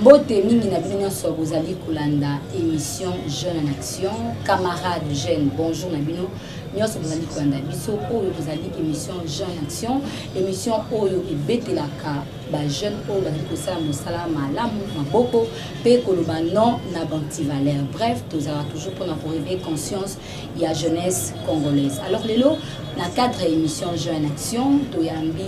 Mbote mingi na bino nyonso bozali kolanda emission Jeune en Action, camarade jeune, bonjour na bino nyonso bozali kolanda biso. Oyo tozali emission Jeune en Action, emission oyo ebetelaka ba jeune oyo bazali kosala mosala malamu maboko mpe koloba non na bantivaleur. Bref, tozalaka toujours mpona koreveille conscience ya jeunesse congolaise. Alors lelo na cadre ya emission Jeune en Action toyambi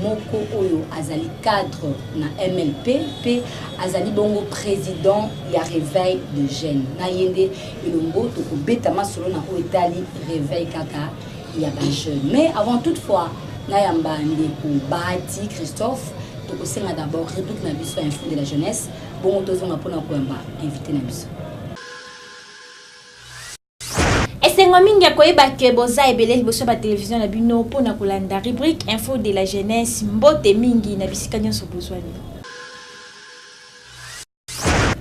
moko oyo azali cadre na mlp mpe azali bongo président ya réveil de jeune na ye nde elongo tokobeta masolo na oyo etali réveil kaka ya bajeune mais avant toute fois nayamba ndeko bahati christophe tokosenga d'abord réplique na biso ya info de la jeunesse bongo tozonga mpona koyamba invité na biso esengo mingi ya koyeba ke boza ebele liboso ya batelevizio na bino mpo na kolanda rubrique info de la jeunesse mbote mingi na bisika nyonso bozwani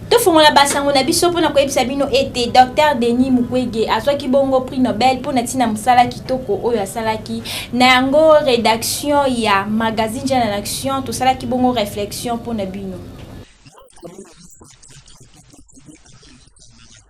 tofungola basango na biso mpo na koyebisa bino ete dr denis mukwege azwaki bongo prix nobel mpo na ntina mosala kitoko oyo asalaki na yango redaction ya magazine jeune en action tosalaki bongo réflexion mpo na bino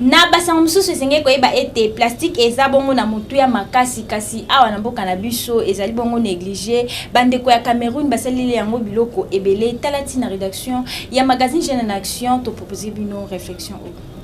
na basango mosusu esengeli koyeba ete plastike eza bongo na motuya makasi kasi awa na mboka na biso ezali bongo néglige bandeko ya cameroun basaleli yango biloko ebele tala ntina rédaction ya magazine jeune en action topropose bino réflexion oyo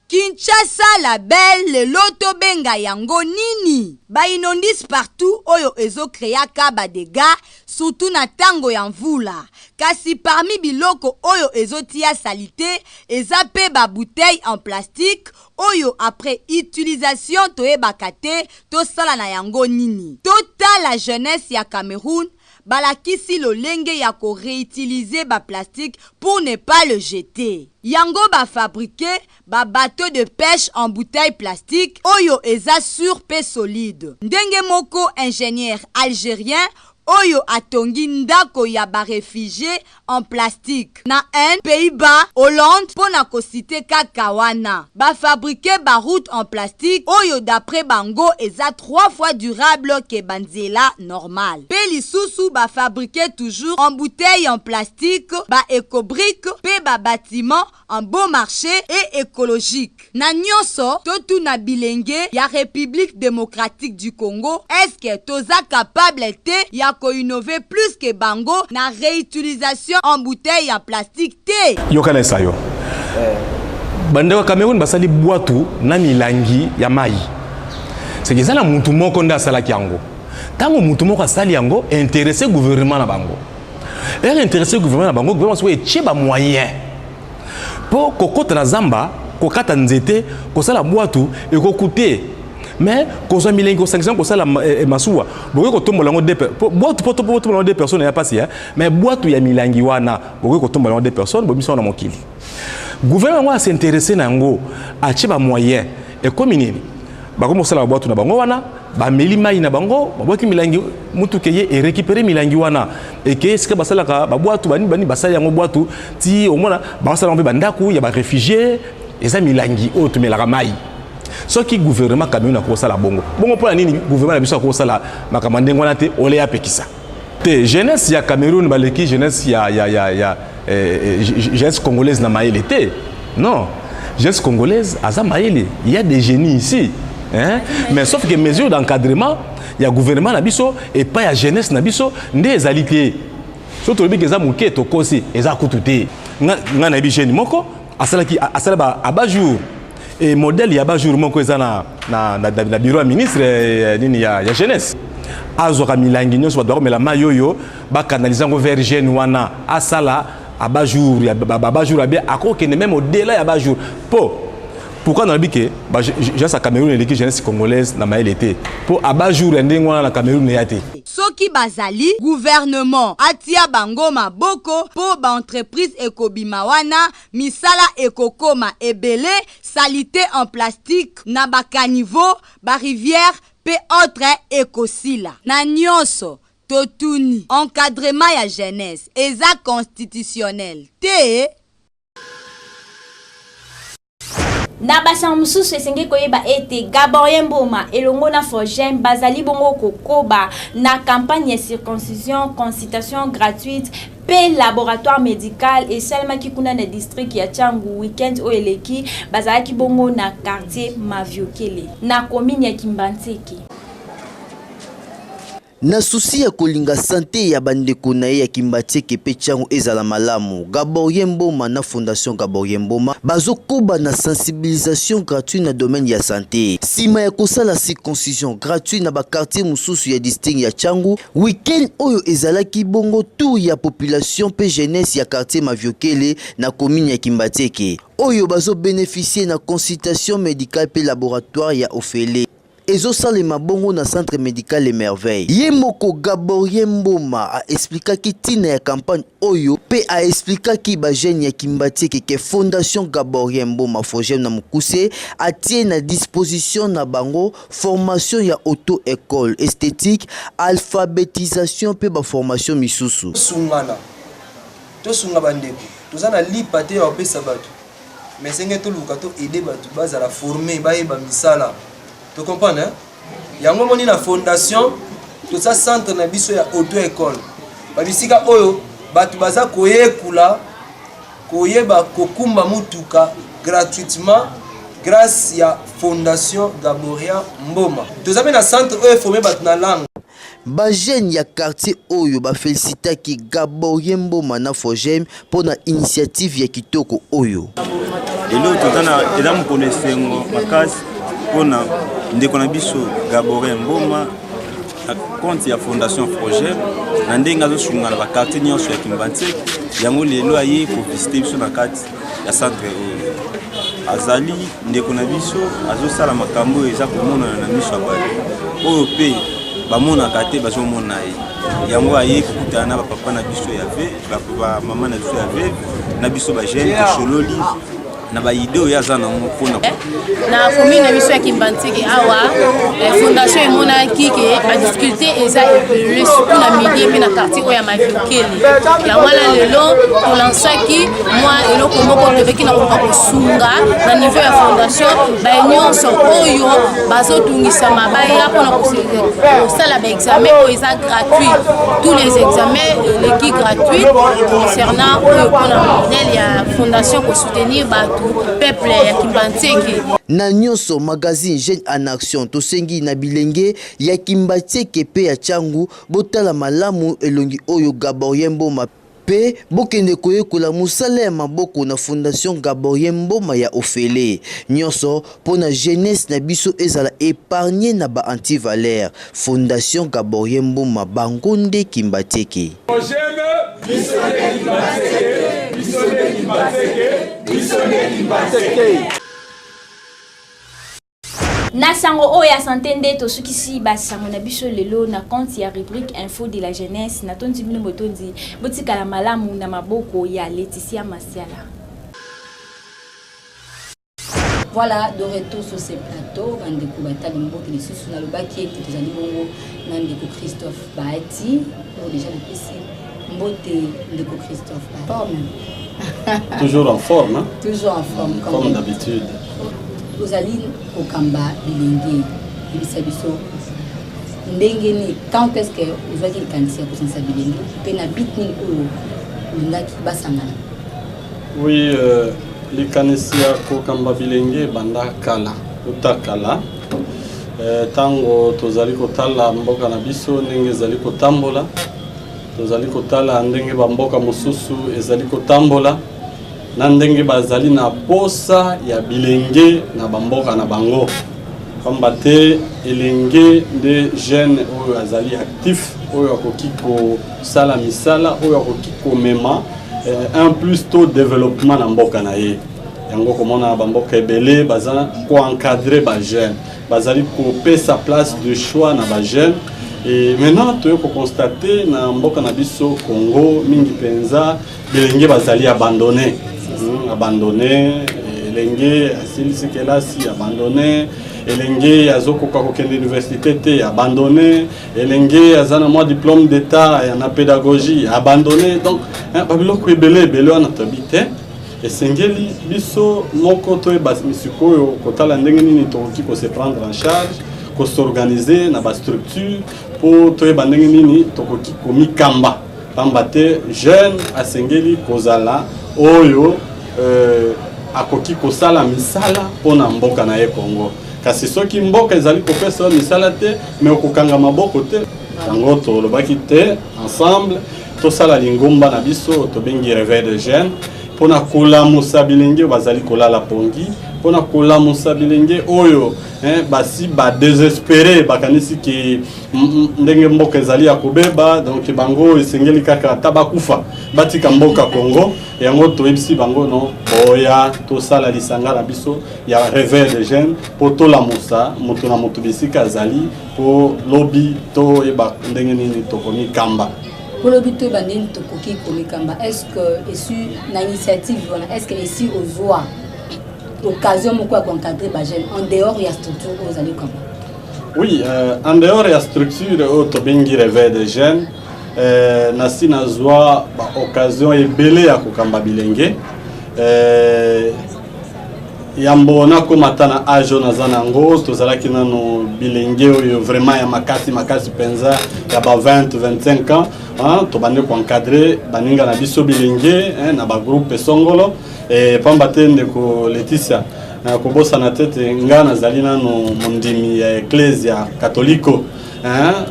Kinshasa la belle lelo to benga yango nini? Ba inondices partout oyo ezo creaka ba degats surtout na tango ya mvula. Kasi parmi biloko oyo ezo tia salite eza pe ba bouteilles en plastique oyo après utilisation toyebaka te to sala na yango nini. To tala jeunesse ya Cameroun Balakisi lolenge ya ko reutiliser ba plastiques pour ne pas le jeter. Yango ba fabriquer ba bateaux de peche en bouteilles plastiques oyo eza sur pe solide. Ndenge moko ingenieur algerien oyo atongi ndako ya ba refugies en plastique na Inde, Pays-Bas, Hollande mpo na ko citer kaka wana. Ba fabriquer ba routes en plastique oyo d'après bango eza trois fois durable que ba nzela normale. Mpe lisusu ba fabriquer toujours embouteille en plastique, ba ecobriques mpe ba batiments en bon marche et ecologique na nionso totuna bilenge ya Republique Democratique du Congo est ce que toza capable te ya ko innover plus que bango na reutilisation en bouteille ya plastique te? Yoka na esayo bandeko ya Cameroun basali bwatu na milangi ya mayi seke eza na mutu moko nde asalaki yango ntango mutu moko asali yango interesse gouvernement na bango ere interesse gouvernement na bango gouvernement sikoyo etie bamoyen mpo kokota na zamba kokata nzete kosala bwatu ekokute mais kozwa milengi kosangisana kosala eh, eh, masuwa bokoki kotombola yango bwatu mpo totombola yango de personne ya mpasi mais bwatu ya milangi wana bokoki kotombola yango de personne bomisango na mokili gouvernement yango a s'interesse na yango atie ba moyen ekomi nini bakomi kosala babwatu na bango wana bameli mai na bango babwaki milangi motuka eye erekipere milangi wana eke esika basalaka babwatu bani bani basali yango bwatu ti omona bakosala yango mpe bandako ya barefugie eza milangi oyo tomelaka mai soki gouvernement cameroun akokosala bongo bongo mpo na nini gouvernement na biso akokosala makambo ya ndenge wana te oleya apekisa te jeunesse ya cameroun baleki jeunesse ya, ya, ya, ya eh, eh jeunesse congolaise na mayele te non jeunesse congolaise aza mayele il y a des génies ici hein? mais sauf que mesure d'encadrement ya gouvernement na biso epai ya jeunesse na biso nde ezali te soki tolobi ke eza moke tokosi eza kutu te ngai nayebi jeune moko asalaki asala ba aba jour Et modèle ya ba jour moko eza na na na, na bureau ya ministre eh, nini ya, ya jeunesse azwaka milangi nyonso bato bakomela mai oyo bakanalize yango vers jeune wana asala aba jour ya baba jour abe akokende meme odela ya ba jour mpo pourquoi nalobi ke jeunesse ya cameroun eleki jeunesse congolaise na mayele te mpo aba jour ya ndenge wana na cameroun eya te soki bazali gouvernement atia bango maboko mpo baentreprise ekobima wana misala ekokoma ebele, salite en plastique na ba caniveaux, ba rivières mpe autres ekosila. Na nionso, totuni, encadrement ya jeunesse eza constitutionnel te? Na basango mosusu, esengeli koyeba ete Gaborien Mboma elongo na Fogem bazali bongo kokoba na campagne ya circoncision, concitation gratuite, mpe laboratoire médical esalemaki kuna na district ya Changu week-end oyo eleki bazalaki bongo na quartier Maviokele na commune ya Kimbanseke. Na susi ya kolinga sante ya bandeko na ye ya Kimbatseke mpe Tshangu ezala malamu, Gaborien Mboma na Fondation Gaborien Mboma bazokoba na sensibilisation gratuite na domaine ya sante. Nsima ya kosala circoncision gratuite na bakartier mosusu ya district ya Tshangu, Week-end oyo ezalaki bongo tour ya population mpe jeunesse ya quartier Maviokele na commune ya Kimbatieke oyo bazo beneficier na consultation medicale mpe laboratoire ya ofele ezosalema bongo na centre medical Emerveille. Ye moko Gaborien Mboma a explikaki ntina ya campagne oyo pe a explikaki ba jeunes ya Kimbatieke ke Fondation Gaborien Mboma Fogem na mokuse atie na disposition na bango formation ya auto-ecole, esthetique, alphabetisation pe ba formation misusu. Sungana to sunga ba ndeko toza na lipa te ya kopesa batu mais senge toluka to aider batu bazala former bayeba misala to comprendre hein. yango omoni na fondation toza centre na biso ya auto école babisika oyo bato baza koyekola koyeba kokumba motuka gratuitement grâce ya fondation gaboria mboma toza mpe na centre oyo eforme bato na langue Ba jeunes ya quartier oyo ba felicitaki Gaborien Mboma na Fojm mpo na initiative ya kitoko oyo. Lelo toza na eza mokolo esengo makasi mpo na ndeko na biso Gaborien Mboma na compte ya Fondation Fojm na ndenge azosunga na ba quartier nyonso ya Kimbanseke yango lelo aye ko visiter biso na kati ya centre oyo azali ndeko na biso azosala makambo oyo eza komonana na miso ya bato oyo mpe bamonaka te bazomona ye yango aye kokutana na bapapa na biso ya ve bamama na biso ya ve na biso bagene tosololi na baide oyo aza nango mpona na commune na biso ya kimbanzeke awa eh, fondation emonaki ke badifficulté eza ebele surtout na midie mpe na quartier oyo ya maviokele yango wana lelo tolansaki mwa eloko moko tozalaki na koka kosunga na niveau ya fondation baye nyonso oyo bazotungisama baya mpona kosala baexamen oyo eza gratuit tous les examens eleki gratuit concernant oyo mpona modèle ya fondation soutenir bato peuple ya kimbantieke na nyonso magazine jeune en action tosengi na bilenge ya kimbatieke mpe ya changu botala malamu elongi oyo gaborien mboma mpe bokende koyekola mosala ya maboko na fondation gaborien mboma ya ofele nyonso Pona jeunesse na biso ezala epargne na ba anti valeur fondation gaborien mboma bango nde kimbatseke. Ojeme biso nde kimbatseke biso nde kimbatseke biso nde kimbatseke. Na sango oyo ya sante nde tosukisi ba sango na biso lelo na compte ya rubrique info de la jeunesse na tondi bino botondi botikala malamu na maboko ya Laetitia Masiala. Voilà, de retour sur ce plateau, bandeko batali mboki lisusu nalobaki ete tozali bongo na ndeko Christophe Bahati oyo oh, deja napesi mbote ndeko Christophe Bahati. Toujours en forme, hein? Toujours en forme, comme, comme d'habitude. Ozali kokamba bilenge, yebisa biso ndenge nini, quand est-ce que ozwaki likanisi ya kosangisa bilenge mpe na bit nini oyo olingaki basangana Oui, euh, likanisi ya kokamba bilenge ebanda kala uta kala ntango euh, tozali kotala mboka na biso ndenge ezali kotambola tozali kotala ndenge bamboka mosusu ezali kotambola na ndenge bazali na posa ya bilenge na bamboka na bango pamba te elenge nde jeune oyo azali actif oyo akoki kosala misala oyo akoki komema eh, un plus to développement na mboka na ye yango komona bamboka ebele baza koencadre bajeune bazali kopesa place de choix na bajeune e maintenant toye kokonstate na mboka na biso congo mingi mpenza bilenge bazali abandonne hmm, abandonne elenge asilisi kelasi abandonne elenge azokoka kokende université te abandonne elenge aza na mwa diplôme d'état ya na pédagogie abandonné donc babiloko ebele ebele wana toyebi te esengeli biso moko toyeba sikoyo kotala ndenge nini tokoki kose prendre en charge kosorganize na bastructure mpo toyeba ndenge nini tokoki komikamba pamba te jeune asengeli kozala oyo euh, akoki kosala misala mpo na mboka na ye congo kasi soki mboka ezali kopesa yo misala te me okokanga maboko te yango tolobaki te ensemble tosala lingomba na biso tobengi reveil de jeune mpo na kolamusa bilenge oyo bazali kolala pongi mpo na kolamusa bilenge oyo eh, basi badesespere bakanisi ke ndenge mboka ezali ya kobeba donk bango esengeli kaka ata bakufa batika mboka congo yango toyebisi bango no boya tosala lisanga na biso ya reveil de jeune mpo tolamusa moto na moto bisika azali mpo lobi toyeba ndenge nini tokomikamba mpo lobi toyeba ndenge tokoki komikamba est ce que esi na initiative wana est ce que esi ozwa occasion moko ya koencadre bajeune en dehors ya structure oyo ozali kama oui euh, en dehors ya structure oyo tobengi reveil de jeune euh, nasi nazwa baoccasion ebele ya kokamba bilenge euh, yambo nakoma ata na age oyo naza na yango tozalaki nano bilenge oyo vraiment ya makasi makasi mpenza ya ba 20 25 ans hein, tobandi koencadre baninga na biso bilenge hein, na bagroupe esongolo e, pamba te ndeko leticia nakobosana te te ngai nazali nano mondimi ya eklese ya katoliko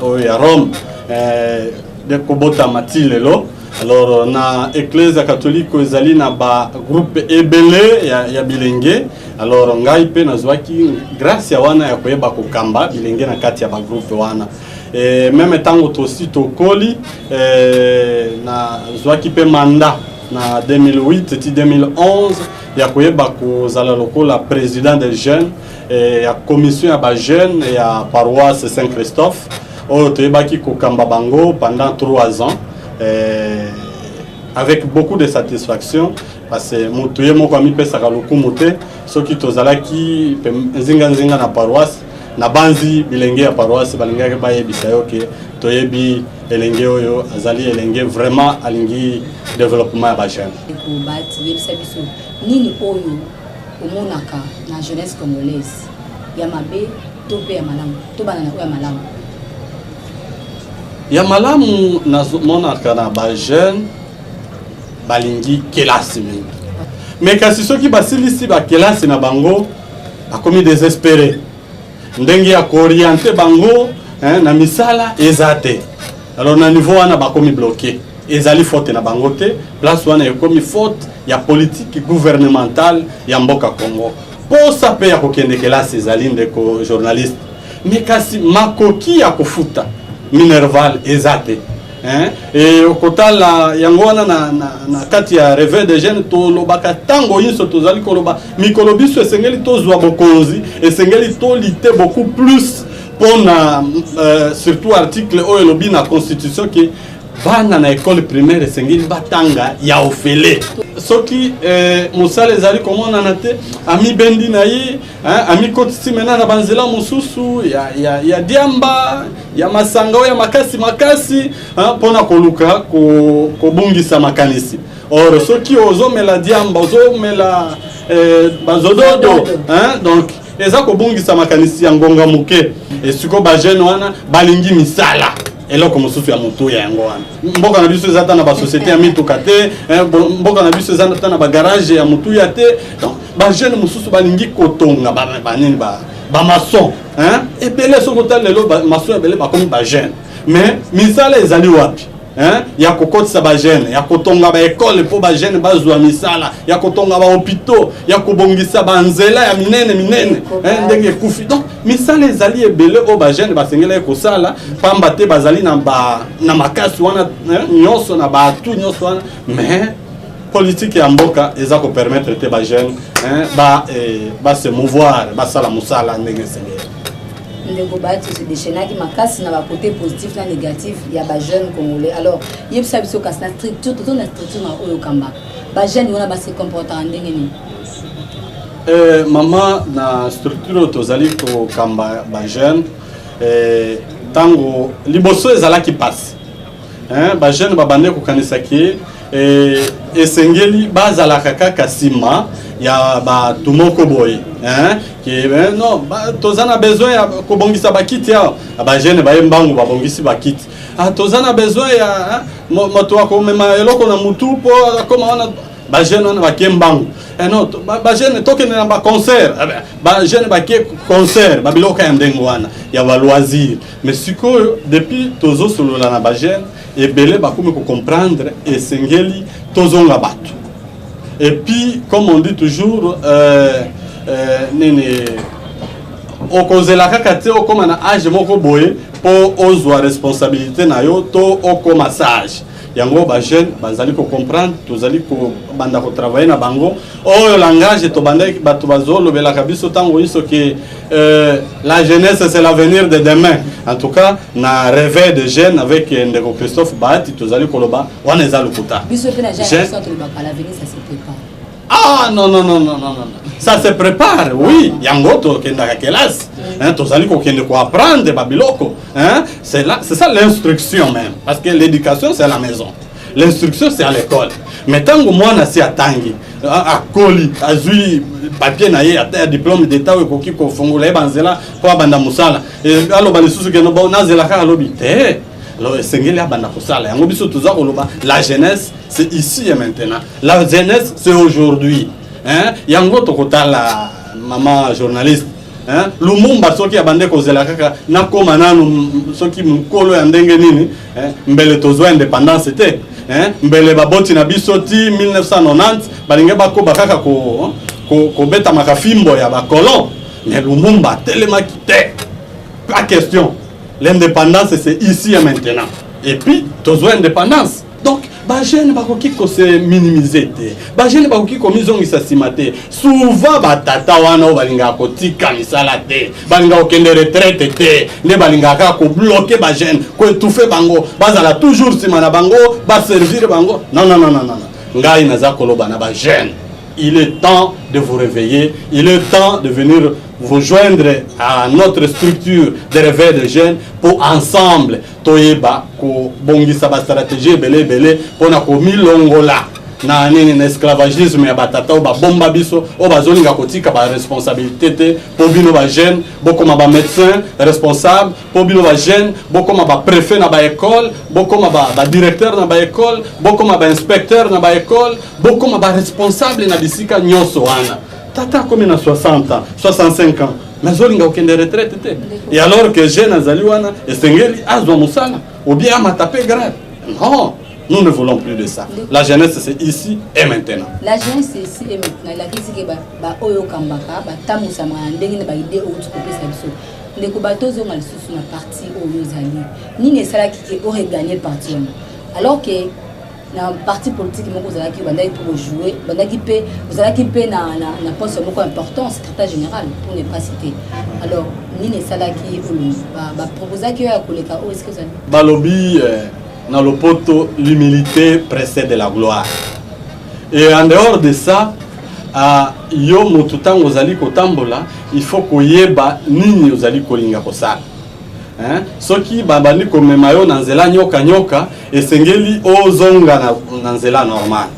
oyo ya rome eh, kobotama ti lelo alors na eklezia katoliko ezali na bagroupe ebele ya, ya bilenge alors ngai mpe nazwaki gracia wana ya koyeba kokamba bilenge na kati ya bagroupe wana e, meme ntango tosi tokoli e, nazwaki mpe manda na 2008 ti 2011 ya koyeba kozala lokola président des jeunes e, ya commission ya bajeune ya paroisse saint christophe oyo toyebaki kokamba bango pendant 3 ans eh, avec beaucoup de satisfaction parce que motu ye moko amipesaka lokumu te soki tozalaki nzinganzinga na paroisse nabanzi bilenge ya paroisse balingaki bayebisa yo ke toyebi elenge oyo azali elenge vraiment alingi développement ya bajeune nini oyo omonaka na jeunesse congolaise ya mabe to mpe ya malamu tobanda na oyo ya malamu ya malamu nazomonaka na bajeune balingi kelasi mingi me kasi soki basilisi bakelasi na bango bakomi desespere ndenge ya kooriente bango hein, na misala eza te alors na niveau wana bakomi bloke ezali faute na bango te place wana ekomi faute ya politiki gouvernementale ya mboka congo Posa pe ya kokende kelasi ezali ndeko journaliste, me kasi makoki ya kofuta minerval eza te hein? E okotala yango wana na, na, na kati ya reve de jeune tolobaka ntango inso tozali koloba mikolo biso esengeli tozwa bokonzi, esengeli tolite beaucoup plus mpo na uh, surtout article oyo elobi na constitution ke bana na ekole primaire esengeli batanga ya ofele soki eh, mosala ezali komonana te amibendi na ye amikotisi mena na banzela mosusu ya, ya, ya diamba ya masanga oyo ya makasi makasi mpo na koluka kobungisa ko makanisi or soki ozomela diamba ozomela eh, bazododo hein? donc eza kobungisa makanisi ya ngonga moke esiko bajeune wana balingi misala eloko mosusu ya motuya yango wana mboka na biso eza ata na basociété ya mituka te eh, mboka na biso eza ata na bagarage ya motuya te donc bajeune mosusu balingi kotonga banini bamason ebele soki otali lelo mason ebele bakomi bajeune mais misala ezali wapi Hein? ya kokotisa bagene ya kotonga baekole mpo bagene bazwa misala ya kotonga bahopitaux ya kobongisa banzela ya minene minene ndenge ekufi donc misala ezali ebele oyo bajeune basengelaki kosala pamba te bazali na, ba, na makasi wana eh, nyonso na baatu nyonso wana mais politike ya mboka eza kopermettre te bajeune eh, ba, eh, base mouvoir basala mosala ndenge esengeli ndeko bato sedeshenaki makasi na bakote positif na négatif ya bajeune congolais alors yebisa biso kasi na structure tozo na structure na oyo kambaka bajeune wana base comportaka ndenge nini Eh, mama na structure oyo tozali kokamba bajeune eh, ntango eh, liboso ezalaki mpasi eh, bajeune babande kokanisa ke eh, esengeli bazalaka kaka nsima ya bato moko boye eh, ke eh, no ba, toza na besoin ya kobongisa bakiti awa ah, bajeune baye mbangu babongisi bakiti ah, toza na besoin ya eh, moto akomema eloko na motu mpo akoma wana ba jeune wana bakie mbangu eh non ba jeune tokende na ba concert eh ba jeune bakie concert ba biloko ya ndenge wana ya ba loisir mais sikoyo depuis tozosolola na ba jeune ebele bakomi kocomprendre esengeli tozonga bato et puis comme on dit toujours euh, euh, nini okozela kaka te okoma na age moko boye mpo ozwa responsabilité na yo to okoma sage yango ba jeune bazali ko comprendre tozali ko banda ko travailler na bango oyo langage to banda bato bazolobelaka biso ntango inso ke euh, la jeunesse c'est l'avenir de demain en tout cas na réveil de jeune avec euh, ndeko christophe bahati tozali koloba wana eza lokuta biso mpe na jeune Ah non non non non non non. Ça se prépare, oui. Yango tokendaka kelasi. Hein, tozali kokende ko apprendre ba biloko. Hein, c'est là, c'est ça l'instruction même parce que l'éducation c'est à la maison. L'instruction c'est à l'école. Mais tango mwana si atangi, a- akoli, azui papier na ye ata ya diplôme d'état oyo ekoki kofungola ye banzela mpo abanda mosala. Eh, Aloba lisusu keno bo nazela kaka alobi te. alors esengeli abanda kosala yango biso toza koloba la jeunesse c'est ici et maintenant la jeunesse c'est aujourd'hui hein? yango tokotala mama journaliste hein? lumumba soki abande kozela kaka nakoma nanu soki mokolo ya ndenge nini hein? mbele tozwa indépendance te hein? mbele baboti na biso ti 1990 balingi bakoba kaka ko, ko, kobetamaka fimbo ya bakolon mais lumumba atelemaki te pas question L'indépendance c'est ici et maintenant. Et puis tozwa indépendance. Donc ba jeune bakoki ko se minimiser te. Ba jeune bakoki ko mizongisa sima te. Souvent ba tata wana balinga ko tika misala te. Balinga okende retraite te. Ne balinga ka ko bloquer ba jeune, ko étouffer bango. Bazala toujours sima na bango, ba servir bango. Non non non non non. Ngai naza koloba na ba jeune. Il est temps de vous réveiller, il est temps de venir vous joindre à notre structure de réveil de jeunes pour ensemble toyeba kobongisa bastratégie ebele ebele mpo na komilongola na nini na esclavagisme ya batata oyo babomba biso oyo bazolinga kotika baresponsabilité te mpo bino bajeune bokoma bamédecin responsable po bino ba jeune bokoma ba prefet na ba école bokoma ba, ba directeur na ba école bokoma ba inspecteur na ba école bokoma ba responsable na bisika nyonso wana tata akomi na 60 ans 65 ans nazolinga kokende retraite te et alors que jeune azali wana esengeli azwa mosala obie amata mpe grave non Nous ne voulons plus de ça. La jeunesse, c'est ici et maintenant. La jeunesse, c'est ici et maintenant. Il a dit que ba, ba oyo kambaka, ba tamu samana, ndenge ba idée ou tu peux faire ndeko bato ozonga lisusu na parti oyo ozali nini esalaki ke oreganye parti yango alors ke na parti politique moko ozalaki obandaki mpe kojoue bandaki mpe ozalaki mpe na, na, na poste moko important secrétaire général pour ne pas citer alors nini esalaki baproposaki oyo ya koleka oyo eske ozali balobi eh, na lopoto l'humilité précède la gloire Et en dehors de ça, uh, yo motu ntango ozali kotambola il faut koyeba nini ozali kolinga kosala hein? soki babandi komema yo na nzela nyoka nyoka esengeli ozonga na, na nzela normal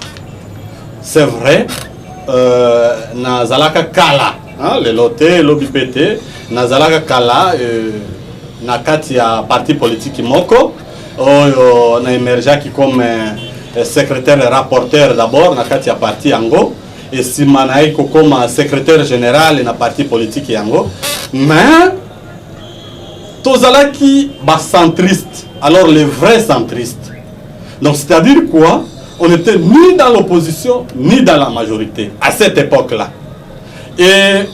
c'est vrai euh, nazalaka kala hein? lelo te lobi mpe te nazalaka kala euh, na kati ya parti politiki moko oyo na emergeaki comme eh, secrétaire rapporteur d'abord na kati ya parti yango esima na ye kokoma secrétaire général na parti politique yango mais tozalaki bacentriste alors les vrais centristes donc c'est-à-dire quoi on était ni dans l'opposition ni dans la majorité à cette époque là et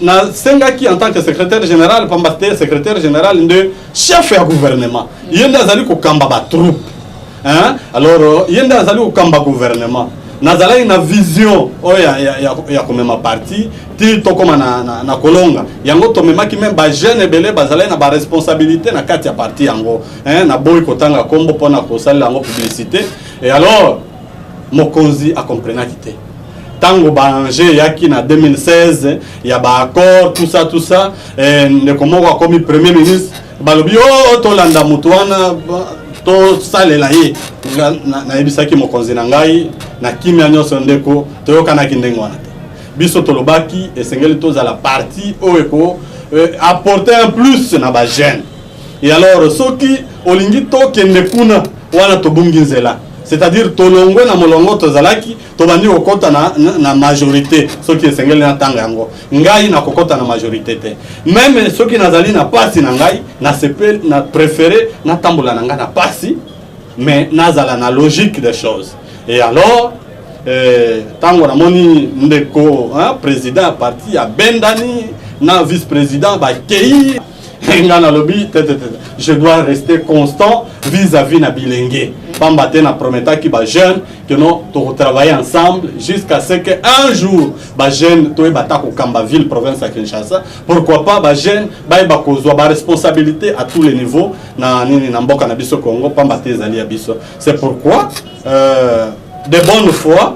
nasengaki en tant que secrétaire général pamba te secrétaire général nde chef ya gouvernement ye nde azali kokamba batroupe hein? alors ye nde azali kokamba gouvernement nazalaki na vision oyo ya, ya, ya, ya komema parti ti tokóma na, na, na kolonga yango tomemaki meme bajeune ebele bazalaki na baresponsabilité na kati ya parti yango hein? naboyi kotanga nkombo mpo na kosalela yango publicité et alors Mokonzi a comprenaki te tango ba enjeu eyaki na 2016 ya ba accord tout ça tout ça eh, ndeko moko akomi premier ministre balobi o oh, tolanda motu wana tosalela ye nayebisaki mokonzi na ngai na kimia nyonso ndeko toyokanaki ndenge wana te biso tolobaki esengeli tozala parti oyo eko eh, apporter un plus na bagene Et alors soki olingi tokende kuna wana tobungi nzela c'est-à-dire tolongwe na molongo tozalaki tobandi kokɔta na, na, na majorité soki esengeli na ntango yango ngai nakokɔta na majorité te meme soki nazali na pasi na ngai nasepe na préféré natambola na ngai na pasi mais nazala na logique des choses et alors ntango eh, namoni ndeko hein, président ya parti abendani na vice président bakei nga nalobi tetetete je dois rester constant vis-à-vis na bilenge pamba te na prometaki bajeune que non tokotravaille ensemble jusqu'à ce que un jour bajeune toyeba ata kokamba ville province ya kinshasa pourquoi pas bajeune bayeba kozwa baresponsabilité à tous les niveaux na nini na mboka na biso congo pamba te ezali ya biso c'est pourquoi euh, de bonne foi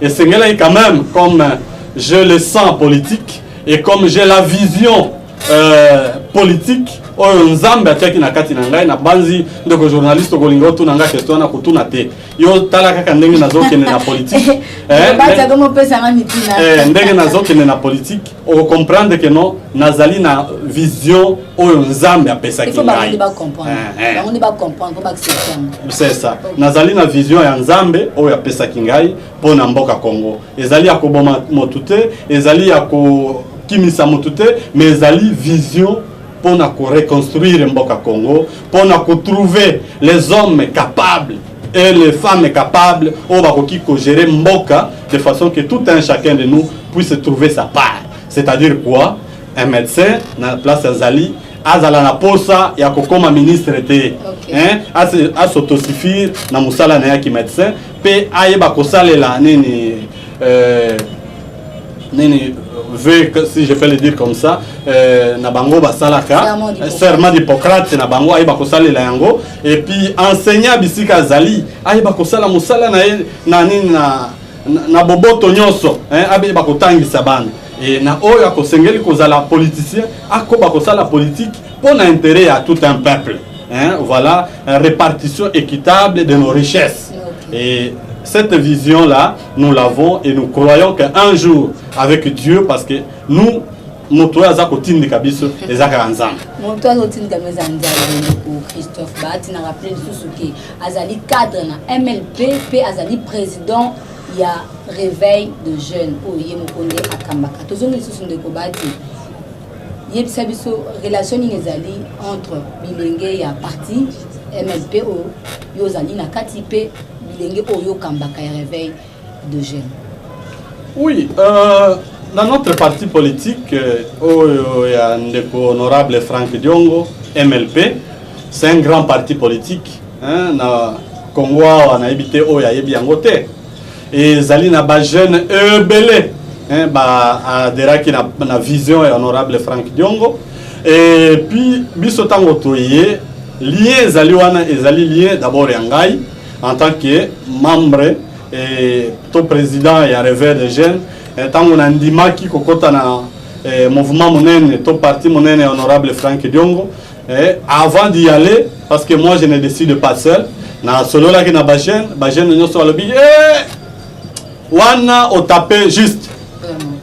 Esengelaki quand même comme j'ai le sang politique et comme j'ai la vision euh, politique oyo nzambe atiaki na kati na ngai nabanzi ndeko journaliste okolinga otuna ngai kesto wana kotuna te yo tala kaka ndenge nazokende na politike eh, eh, ndenge nazokende na politike o comprendre que non nazali na vision oyo nzambe apesaki ngai c'est ça nazali na vision ya nzambe oyo apesaki ngai mpo na mboka congo ezali ya koboma motu te ezali ya kokimisa motu te mais ezali vision mpo na koreconstruire mboka congo mpo na kotrouve les hommes capables et les femmes capables oyo bakoki kogere mboka de façon que tout un chacun de nous puisse trouver sa part c'est-à-dire quoi un médecin na place azali azala na posa ya kokoma ministre te hein, ase- asautosuffire na mosala na ye ya kimédecin mpe ayeba kosalela nini euh, nini ve si je peux le dire comme ça euh, na bango basalaka serment d'hippocrate na bango ayeba kosalela yango et puis enseignant bisika azali ayeba kosala mosala na ye na nini na, na, na boboto nyonso abeba kotangisa bana e na oyo akosengeli kozala politicien akoba kosala politique mpo na intérêt ya tout un peuple hein, voilà répartition équitable de nos richesses et cette vision là nous l'avons et nous croyons qu'un jour avec Dieu parce que nous moto oyo aza kotindika biso eza kaka nzambe moto aza kotindika biso eza nzambe ndeko christophe bahati na rappele lisusu ke azali cadre na mlp mpe azali président ya réveil de jeune oyo ye moko nde akambaka tozongi lisusu ndeko bahati Yebisa biso relation nini ezali entre bilenge ya parti MLP oyo yo ozali na kati mpe bilenge oyo okambaka ya réveil de jeune. Oui, euh, na notre parti politique euh, oyo ya ndeko honorable Frank Diongo MLP, c'est un grand parti politique hein, na Congo awa nayebi te oyo ayebi yango te ezali na ba jeune ebele hein, ba aderaki na, na vision ya honorable frank diongo et puis biso ntango toye lien ezali wana ezali lien d'abord ya ngai en tant que membre et to président ya reveur de jeune ntango nandimaki kokɔta na eh, mouvement monene to parti monene ya honorable frank diongo Eh, avant d'y aller, parce que moi je ne décide pas seul, na solo là qui na bajen, bajen nous sommes le billet. Eh, wana au tapé juste.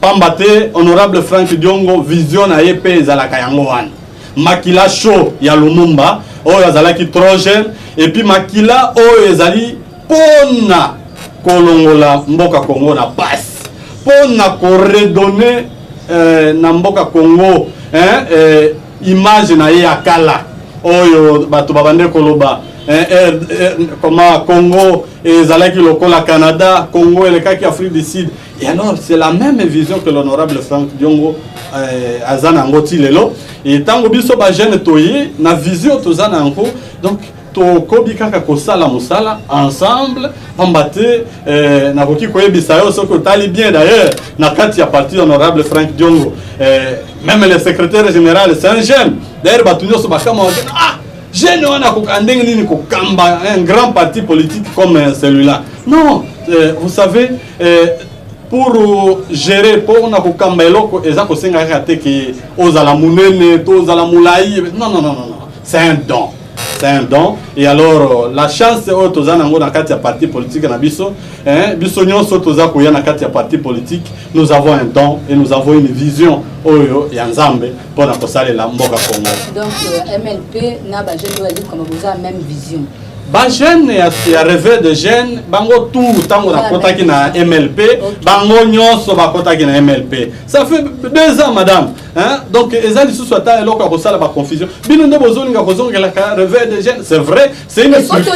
Pambate, honorable Frank Diongo, vision na yepe ezalaka yango wana. Makila chaud ya Lumumba, oyo azalaki trop jeune, et puis makila oyo ezali pona kolongola mboka Congo na passe, pona ko redonner euh, na mboka Congo hein, euh, image na ye ya kala oyo bato babande koloba eh, eh, eh, koma congo ezalaki lokola canada congo elekaki afrique du sud et alors c'est la même vision que l'honorable frank diongo eh, aza na yango ti lelo e ntango biso bajeune toye na vision toza na yango donc tokobi kaka kosala mosala ensemble pamba te eh, nakoki koyebisa yo soki otali bien d'ailleurs na kati ya parti honorable frank diongo eh, meme le secrétaire général c'est un jeune d'ailleurs bato nyonso bakama wake ah jeune wana akoka ndenge nini kokamba un grand parti politique comme eh, celui-là non eh, vous savez eh, pour gérer mpo na kokamba eloko eza kosenga kaka te ke ozala monene to ozala molai non non non non c'est un don c'est un don et alors la chance oyo toza nango na kati ya parti politique na biso hein, biso nyonso toza koya na kati ya parti politique nous avons un don et nous avons une vision oyo ya nzambe mpo na kosalela mboka congo donc euh, mlp na bajeune oyo azali koma boza même vision bajeune ya, ya reve de jeune bango tu ntango nakotaki na mlp bango nyonso bakotaki na mlp ça fait deux ans madame Hein? Donc, eza lisusu ata eloko ya kosala ba confusion. Bino nde bozolinga kozongelaka réveil des jeunes, c'est vrai, c'est une structure,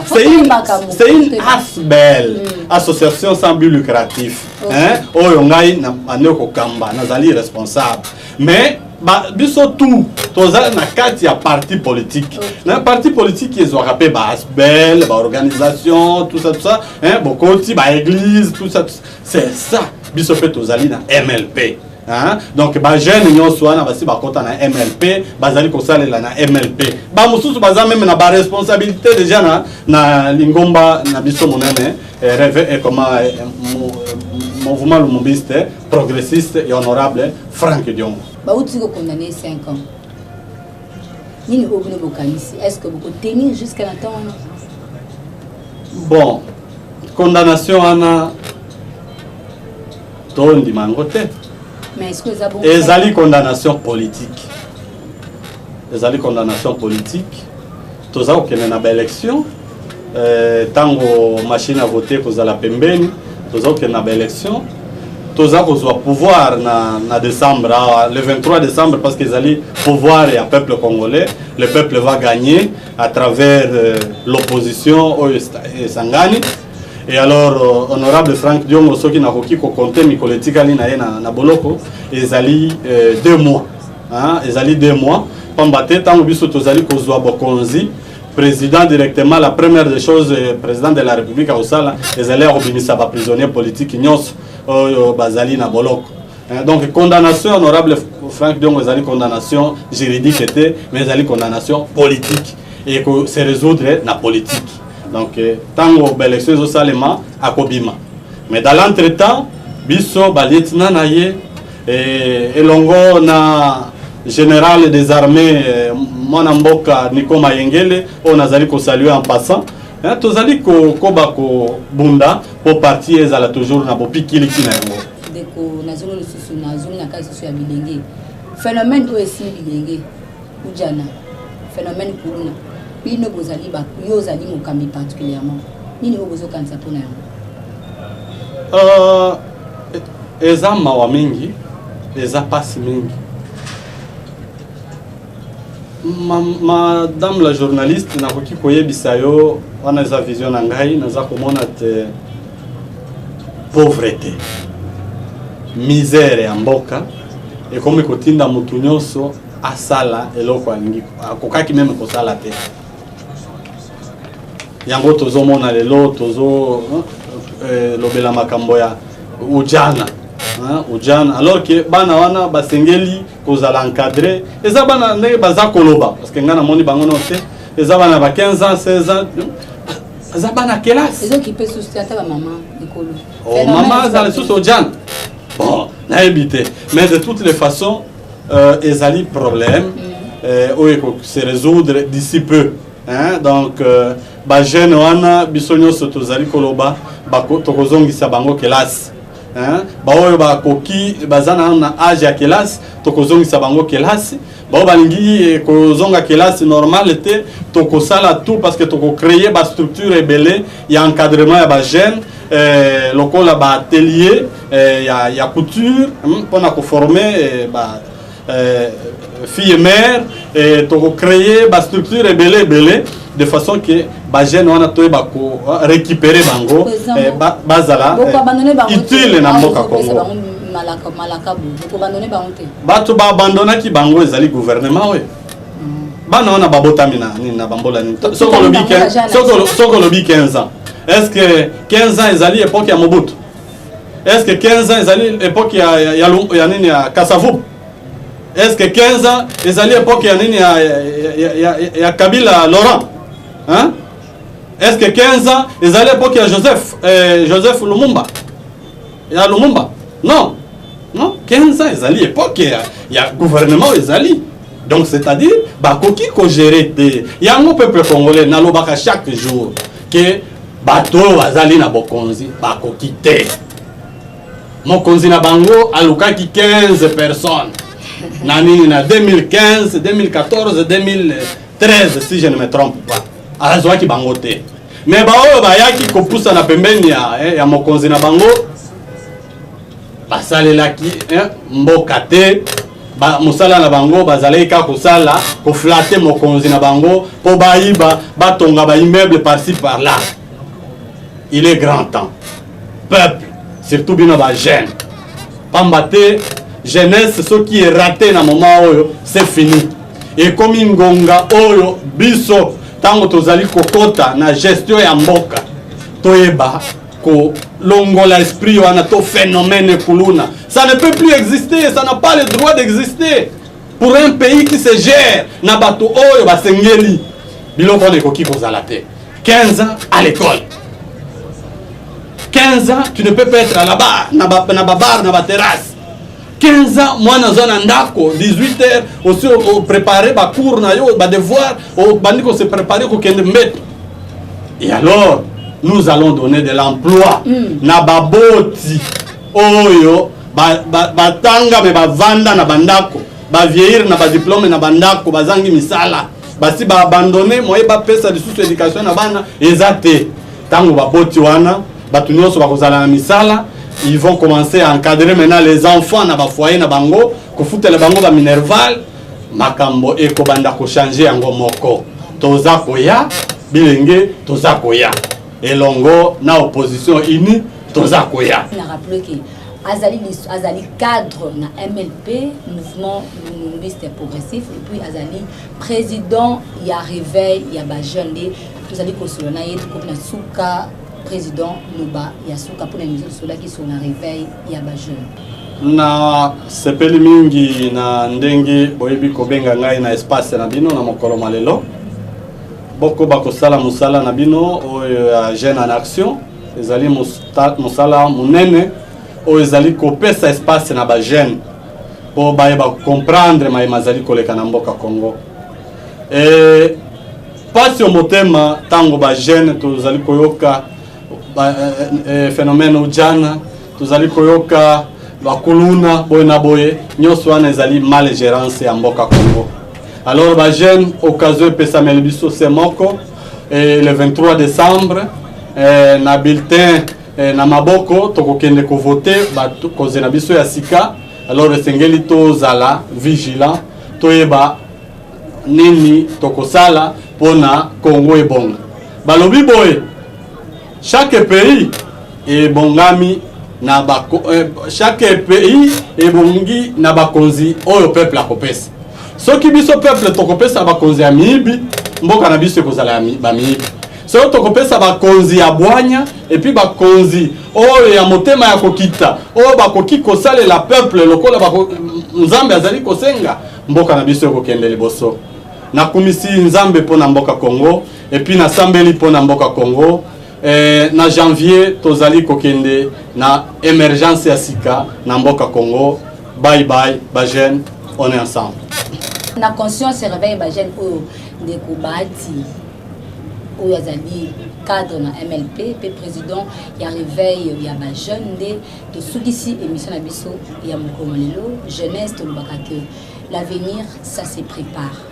c'est une, c'est une ASBEL, mm. association sans but lucratif. Okay. Hein? Oyo ngai na ane kokamba, nazali responsable. Mais ba biso tout toza na kati ya parti politique okay. na parti politique ezwaka mpe ba asbel ba organisation tout ça tout ça hein, bokoti ba église tout ça, tout ça. c'est ça biso mpe tozali na mlp Hein? donc bajeune nyonso wana basi bakota na mlp bazali kosalela na mlp bamosusu baza meme na baresponsabilité déjà na, na lingomba na biso monene eh, reve eh, ekoma eh, mouvement lumumbiste progressiste et honorable frank diongo bauti kokondane 5 ans nini oyo bino bokanisi est ce que bokotenir jusqu'à na temps wana bon condamnation wana tondima yango te ezali condamnation politique ezali condamnation politique toza kokende na baélection ntango euh, machine ya vote ekozala pembeni toza kokende na baélection toza kozwa pouvoir na, na décembre awa ah, le 23 décembre parce que ezali pouvoir ya peuple congolais le peuple va gagner à travers euh, l'opposition oyo esangani Et alors, euh, honorable Frank Diongo, soki nakoki ko compter mikolo etikali na ye na, na boloko, ezali euh, deux mois. Hein, ezali deux mois. Pamba te, tango biso tozali kozwa bokonzi, président directement, la première des choses, euh, président de la République à Osala, ezali ya kobimisa ba prisonniers politiques nyonso oyo bazali na boloko. Eh, donc condamnation honorable frank diongo ezali condamnation juridique te mais ezali condamnation politique et que se résoudre na politique donc ntango eh, baélection ezosalema akobima mais dans l'entre temps biso balieutenant na ye eh, elongo na général des armées mwana mboka niko mayengele oyo nazali kosalue en passant tozali kokoba kobunda mpo parti ezala toujours na bopikiliki na yango ndeko na zolo lisusu na zolo na ka lisusu ya bilenge phénomène oyo esili bilenge kujana phénomène kuluna bino bozali yo ozali mokambi particulièrement nini oyo bozokanisa mpo na yango euh, e-, eza mawa mingi eza mpasi mingi madame la journaliste nakoki koyebisa yo wana eza vision na ngai naza komona te pauvreté misère ya mboka ekomi kotinda motu nyonso asala eloko alingi akokaki meme kosala te yango tozomona lelo tozo eh, lobela makambo ya ujana ujana alors ke bana wana basengeli kozala encadre eza bana ndenge baza koloba parce que ngai namoni bango nao te eza bana ba 15 ans 16 ans eza bana kelasi ezokipe susu te ata bamama likolo oh, mama azala lisusu ojana bon nayebi te mais de toutes les façons euh, ezali problème mm. euh, oyo ekose résoudre d'ici peu hein? donc euh, bajeune wana biso nyonso tozali koloba tokozongisa bango kelasi hein? baoyo bakoki baza nano na age ya kelasi tokozongisa bango kelasi baoyo balingi eh, kozonga kelasi normale te tokosala tout parce que tokocreye bastructure ebele ya encadrement ya bajeune eh, lokola baatelier eh, ya, ya couture mpona hmm, koforme eh, ba Euh, fille mère eh, toko créer ba structure ebele ebele de façon que ba jeune wana toyeba ko euh, récupérer bango eh, bazala eh, utile na mboka Congo bato baabandonaki bango ezali gouvernement oyo mm. bana wana babotami na nini na bambola nini soki olobi 15 ans est ce que 15 ans ezali époque ya mobutu est-ce que 15 ans ezali époque ya ya, ya, ya nini ya Kasavubu est-ce que 15 ans ezali époque ya nini ya ya, ya, ya, ya Kabila Laurent hein est-ce que 15 ans ezali époque ya Joseph eh, Joseph Lumumba ya Lumumba non non 15 ans ezali époque ya, ya gouvernement ezali donc c'est-à-dire bakoki ko gérer te yango peuple congolais nalobaka chaque jour ke bato oyo bazali na bokonzi bakoki te mokonzi na bango alukaki 15 personnes na nini na 2015 2014 2013 si je ne me trompe pas azwaki bango te me baoyo bayaki kopusana pembeni ya, eh, ya mokonzi na bango basalelaki eh, mboka te ba, mosala na bango bazalaki kaka kosala koflate mokonzi na bango mpo bayiba batonga baimmeuble parci par là il est grand temps peuple surtout bino bajeune pamba te jeunesse soki erate na moment oyo c'est fini ekomi ngonga oyo biso ntango tozali kokota na gestion ya mboka toyeba kolongola esprit wana to phénomène kuluna ça ne peut plus exister ça n'a pas le droit d'exister pour un pays qui se gère na bato oyo basengeli biloko wana ekoki kozala te 15 ans à l'école 15 ans tu ne peux pas être à la bar na babar na baterrasse 15 ans mwana aza na ndako 18 heures osi oprépare bacours na yo badevoir obandi kose prépare kokende mbeto et alors nous allons donner de l'emploi mm. na baboti oyo batanga me bavanda na bandako bavieillir na badiplome na bandako bazangi misala basi ba abandone moye bapesa lisusu education na bana eza te ntango baboti wana bato nyonso bakozala na misala ils vont commencer à encadrer maintenant les enfants na bafoyer na bango kofutela bango baminerval makambo ekobanda kochange yango moko toza koya bilenge toza koya elongo na opposition unie toza koya azali lisu azali cadre na mlp mouvement lumumbiste progressif et puis azali président ya réveil ya bajeune nde tozali kosolo na ye tokomi na suka président loba ya suka mpona miso tosolaki sur na réveil ya bajeune na sepeli mingi na ndenge boyebi kobenga ngai na espace na bino na mokolo ma lelo bokoba kosala mosala na bino oyo ya jeune en action ezali mosala monene oyo ezali kopesa espace na bajeune mpo bayeba comprendre maye mazali koleka na mboka congo e, pasi yo motema ntango bajeune tozali koyoka ba, e, e, phénomène ujana tozali koyoka bakuluna boye na boye nyonso wana ezali mal gerance ya mboka congo alors bajeune occasion epesameli biso se moko Et le 23 décembre eh, na bulletin eh, na maboko tokokende kovote bakozi na biso ya sika alors esengeli tozala vigilant toyeba nini tokosala mpo na kongo ebonga balobi boye Chaque pays ebongami na ba eh, chaque pays ebongi na bakonzi oyo peuple akopesa. Soki biso peuple tokopesa bakonzi ya miyibi, mboka na biso ekozala ba miyibi. Soki tokopesa bakonzi ya bwanya epuis bakonzi oyo ya motema ya kokita oyo bakoki kosalela peuple lokola bako, Nzambe azali kosenga, mboka na biso ekokende liboso. Nakumisi Nzambe mpo na mboka Congo. Et puis na sambeli pona mboka Congo eh, na janvier tozali kokende na emergence ya sika na mboka Congo. Bye bye ba jeune, on est ensemble. Na conscience réveille ba jeune oyo ndeko Bahati oyo azali cadre na MLP pe président ya réveil ya ba jeune nde tosukisi émission na biso ya mokolo lelo jeunesse tolobaka que l'avenir ça se prépare.